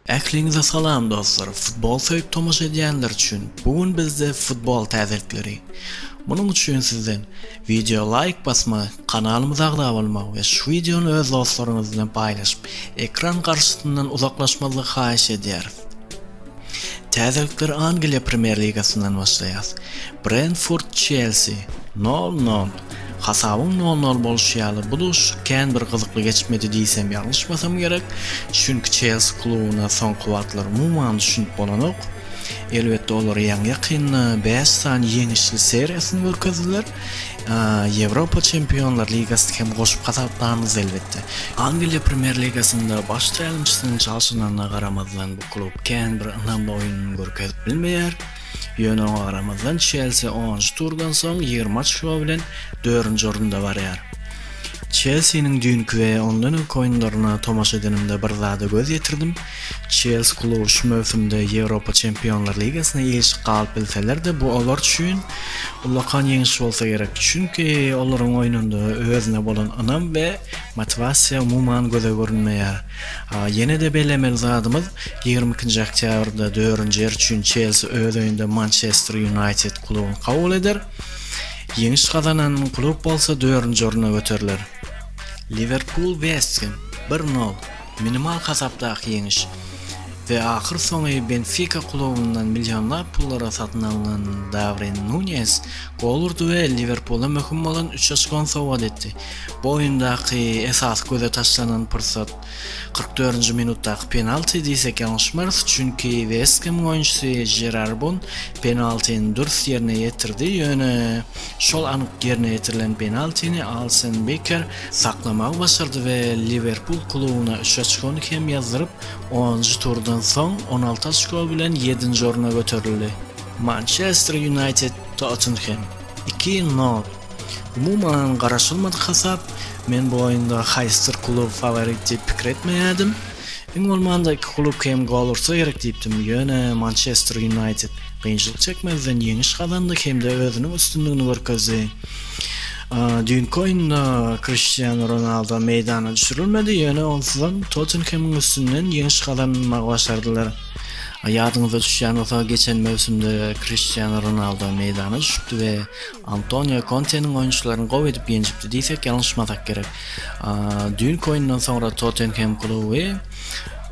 Ähliňize salam dostlar futbol söýüp tomaşa edýänler üçin bu gün bizde futbol täzelikleri munuň üçin sizden wideo laýk basmagy kanalymyza agza bolmagy we şu wideony öz dostlaryňyz bilen paýlaşyp ekran garşysyndan uzaklaşmazlygy haýyş edýäris täzelikler Angliýa premýer ligasyndan başlaýas Brentford Çelsi nol nol Hasabyň nol-nol bolşy ýaly, bu duşuşyk kän bir gyzykly geçmedi diýsem ýalňyşmasam gerek, çünki Çelsi klubyna soňky wagtlar umuman düşünip bolanok. Elbetde, olar ýaňy-ýakynda bäş sany ýeňişli seriýasyny görkezdiler. Ýewropa Çempionlar ligasyny hem goşup hasaplarmyz, elbetde. Angliýa Premýer ligasynda baş tälimçisiniň çalşyranyna garamazdan, bu klub kän bir ynamly oýun görkezip bilmeýär. Ýöne oňa garamazdan Çelsi onunjy turdan soň ýigrimi oçko bilen dördünji orunda barýar. Çelsiniň düýnki we ondan öňki oýunlaryna tomaşa edenimde bir zada göz ýetirdim, Çelsi kluby şu möwsümde Ýewropa Çempionlar ligasyna ilişik galyp bilseler-de bu olar üçin ullakan ýeňiş bolsa gerek, çünki olaryň oýnunda özüne bolan ynam we motiwasiýa umuman göze görünmeýär. Ýene-de bellemeli zadymyz, ýigrimi ikinji oktýabrda dördünji ýer üçin Çelsi öz öýünde Mançester Ýunaýted klubyny kabul eder. Ýeňiş gazanan klub bolsa dördünji orna göteriler. Liwerpul-West Hem, bir nol, minimal hasapdaky ýeňiş we ahyrsoňy Benfika klubyndan millionlap pullara satyn alnan Dawrin Nunýes gol urdy we Liwerpula möhüm bolan üç oçkony sowgat etdi. Bu oýundaky esasy göze taşlanan pursat kyrk dördünji minutdaky penalti diýsek ýalňyşmarys, çünki West Hemiň oýunçysy Jerar Bon penaltini dürs ýerine ýetirdi, ýöne şol anyk ýerine ýetirilen penaltini Alsen Beker saklamagy başardy we Liwerpul klubyna üç oçkony hem ýazdyryp, onunjy turdan soň on alty oçko bilen ýedinji orna göterildi. Mançester Ýunaýted Tottenhem iki nol. Umuman garaşylmadyk hasap. Men bu oýunda haýsydyr klub faworit diýip pikir etmeýärdim. Iň bolmanda iki klub kem gol ursa gerek diýipdim. Ýöne Mançester Ýunaýted kynçylyk çekmezden ýeňiş gazandy hem-de özüniň üstünligini görkezdi. Düýnki oýunda Kriştianu Ronaldo meýdana düşürilmedi, ýöne onsuzam Tottenhemiň üstünden ýeňiş gazanmagy başardylar. Ýadyňyza düşýän bolsa, geçen möwsümde Kriştianu Ronaldo meýdana düşüpdi we Antonio Konteniň oýunçylaryny gowy edip ýenjipdi diýsek ýalňyşmasak gerek. Düýnki oýundan soňra Tottenhem kluby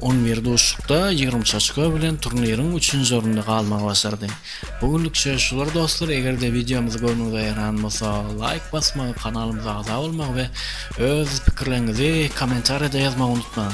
on bir duşuşykda ýigrimi üç oçko bilen turniriň üçünji orunda galmagy başardy. Bu günlük söz şular dostlar, eger-de wideomyz göwnüňize ýaran bolsa laýk basmagy, kanalymyza agza bolmagy we öz pikirleriňizi kommentariýada ýazmagy unutmaň.